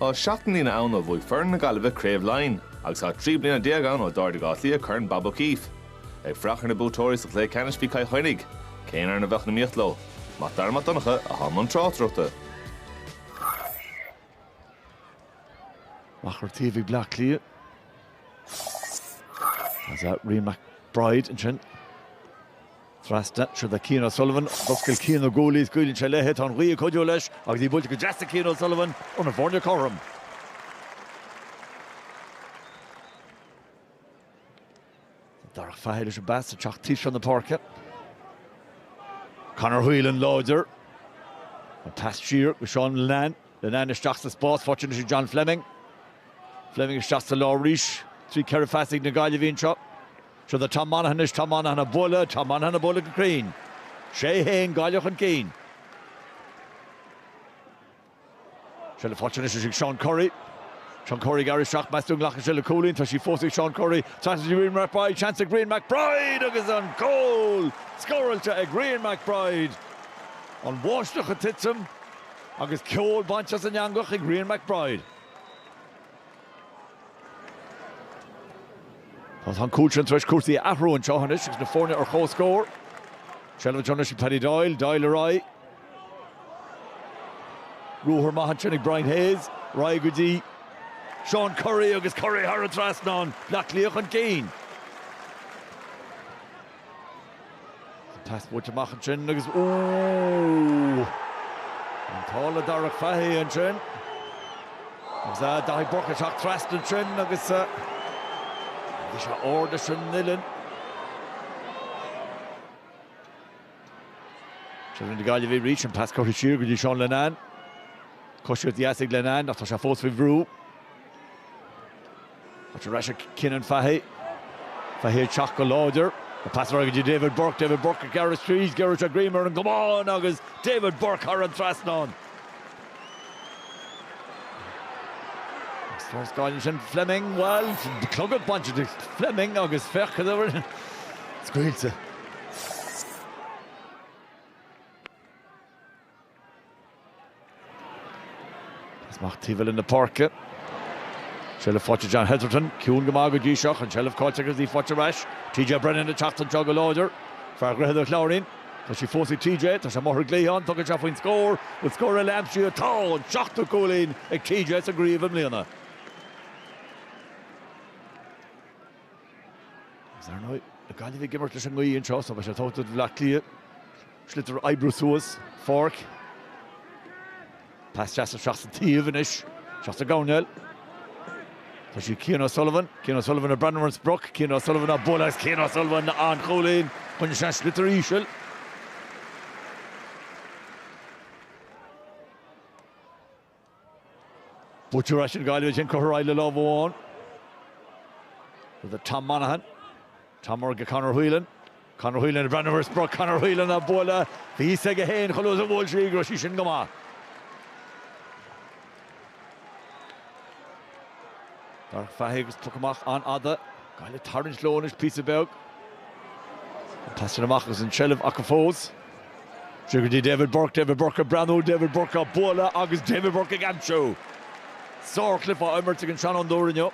Tá seacht mbliana ann ó bhuaigh foireann na Gaillimhe Craobh Laighean agus tá trí bliana déag ann ó d'ardaigh Áth Cliath Corn Bob O'Keeffe. Ag fuireach ar na buaiteoirí sa chluiche ceannais bhí Cill Chainnigh. Cén fhoireann a bheadh in iomaíocht leo? Mac Dara Mac Donncha atá i mbun tráchtaireachta. Amach ar taobh ag Bleá Cliath. Tá Rian McBride ansin. Trasna, seo do Cian O'Sullivan, d'oscail Cian na guaillí, scaoileann sé léithe, tá an ghaoth ag cuidiú leis agus í buailte go deas ag Cian O'Sullivan ó na foirne cothrom. Tá Darach Fahy leis an bpas isteach taobh seo na páirce. Conor Whelan láidir. An pas siar go Seán Linnane. Linnane isteach sa spás, faighte ansin John Fleming. Fleming isteach sa lár arís. Trí ceithre phas ag na Gaillimhigh anseo. Seo do Tom Monaghan anois, Tom Monaghan a' bualadh, Tom Monaghan a' bualadh go cruinn. 'Sé fhéin, Gaillimh chun cinn. Seilbh faighte anois ag Seán Currie. Seán Currie ag gearradh isteach, meas tú an nglacfaidh sé le cúilín? Tá sí fós ag Seán Currie. Seans ag Rian McBride, seans ag Rian McBride agus an cúl scóráilte ag Rian McBride. An bháisteach a' titim agus ceol bainte as an eangach ag Rian McBride. Tá an cúl sin tar éis cúrsaí a athrú anseo anois agus na foirne ar comhscór. Seilbh anseo anois ag Paddy Doyle, Doyle ar aghaidh. Ruathar maith ansin ag Brian Hayes, ar aghaidh go dtí Seán Currie agus Currie thar an trasnán, Bleá Cliath chun cinn. Tá sí scaoilte amach ansin agus ooh! An t-ádh le Darach Fahy ansin agus ah, Daithí Burke ag teacht trasna ansin agus ah, bhí sé ard leis an uillinn. Seilbh ag na Gaillimhigh arís, an pas curtha siar go dtí Seán Linnane. Coisíocht dheas ag Linnane ach tá sé fós faoi bhrú. Faighte ar ais ag Cianan Fahy. Fahy ag teacht go láidir. Tá pas ar aghaidh go dtí David Burke. David Burke ag gearradh tríd. Giorraíonn a ghreim ar an gcamán agus David Burke thar an trasnán. Agus tá an scáil ansin. Fleming, bhuel, clogad bainte de Fleming agus féach cad a rinne Scaoilte. Pas amach taobh eile na páirce. Seilbh faighte ag John Hetherton. Ciúin go maith go dtí seo. An tseilbh caillte agus í faighte ar ais. TJ Brennan ag teacht anseo go láidir. Fear Dhroichead an Chláirín. Tá sí fós ag TJ. Tá sé amuigh ar an gcliathán. Tugann sé faoin scór. Bhfuil scór eile aimsithe. Tá! An seachtú cúilín ag TJ sa gcraobh i mbliana. Is ar ndóigh, na Gaillimhigh ag imirt leis an ngaoth anseo, so beidh sé tugtha do Bhleá Cliath sliotar a oibriú suas an pháirc. Pas deas isteach sa taobh anois. Isteach sa gcoirnéal. Tá sí ag Cian O'Sullivan. Cian O'Sullivan ag breathnú ar an sprioc. Cian O'Sullivan á bualadh agus Cian O'Sullivan an-chúilín chun isteach an sliotar íseal. Buaite ar ais ag Gaillimh Jane Crowe ar aghaidh le lámh amháin, rud ar Tom Monaghan, Tom ar aghaidh ag Conor Whelan, Conor Whelan ag breathnú ar sprioc Conor Whelan á bualadh, bhí fhios aige féin chomh luath is a bhuail sé í go raibh sí sin go maith. Darach Fahy agus poc amach an-fhada. Gaillimh ag tarraingt leo anois píosa beag. An pas sin amach agus an tseilbh acu fós. Tríd go dtí David Burke, David Burke ag breathnú, David Burke á bualadh agus David Burke ag aimsú. Sárchluiche á imirt ag an seanfhondúir inniu.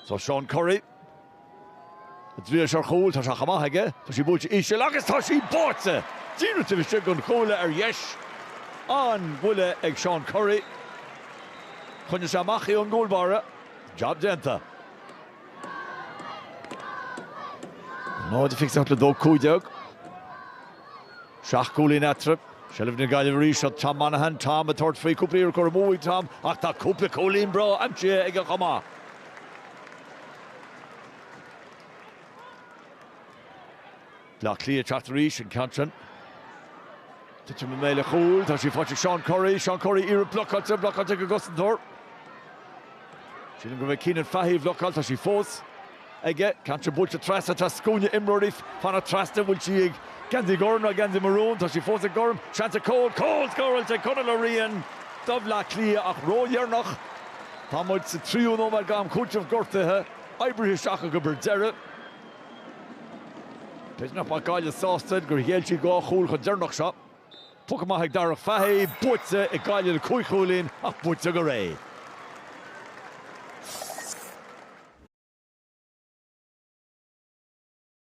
Seo Seán Currie. An dtriailfidh sé ar chúl, tá sé chomh maith aige, tá sí buailte íseal agus tá sí báite! Díreach taobh istigh den chuaille ar dheis. An-bhuille ag Seán Currie. Choinnigh sé amach í ón gcúl báire. Job déanta. 0-28 le 2-15. Seacht gcúilín eatarthu. Seilbh na Gaillimhe arís seo Tom Monaghan. Tom ag tabhairt faoi cúpla iarracht curtha amú ag Tom ach tá cúpla cúilín breá aimsithe aige chomh maith. Baile Átha Cliath ag teacht arís an ceann sin. Titeann i mbéal an chúil. Tá sí faighte ag Seán Currie. Seán Currie, iarracht blocáilte, blocáilte ag an gcosantóir. Sílim gurb é Cianan Fahy a bhlocáil. Tá sí fós. aige. Ceann sin buailte trasna, tá scuaine imreoirí ag fanacht trasna. Bhfuil sí ag geansaí gorm nó geansaí marún? Tá sí fós ag gorm. Seans ar chúl. Cúl! Scóráilte ag Conall Ó Riain do Bhleá Cliath ach ródheireanach. Tá muid sa tríú nóiméad d'am cúitimh gortuithe oibrithe isteach acu ar deireadh. B'fhéidir nach mbeadh Gaillimh sásta gur ghéill siad dhá chúl chomh deireanach seo. Poc amach ag Darach Fahy, buaite ag Gaillimh le cúig chúilín ach buaite go réidh.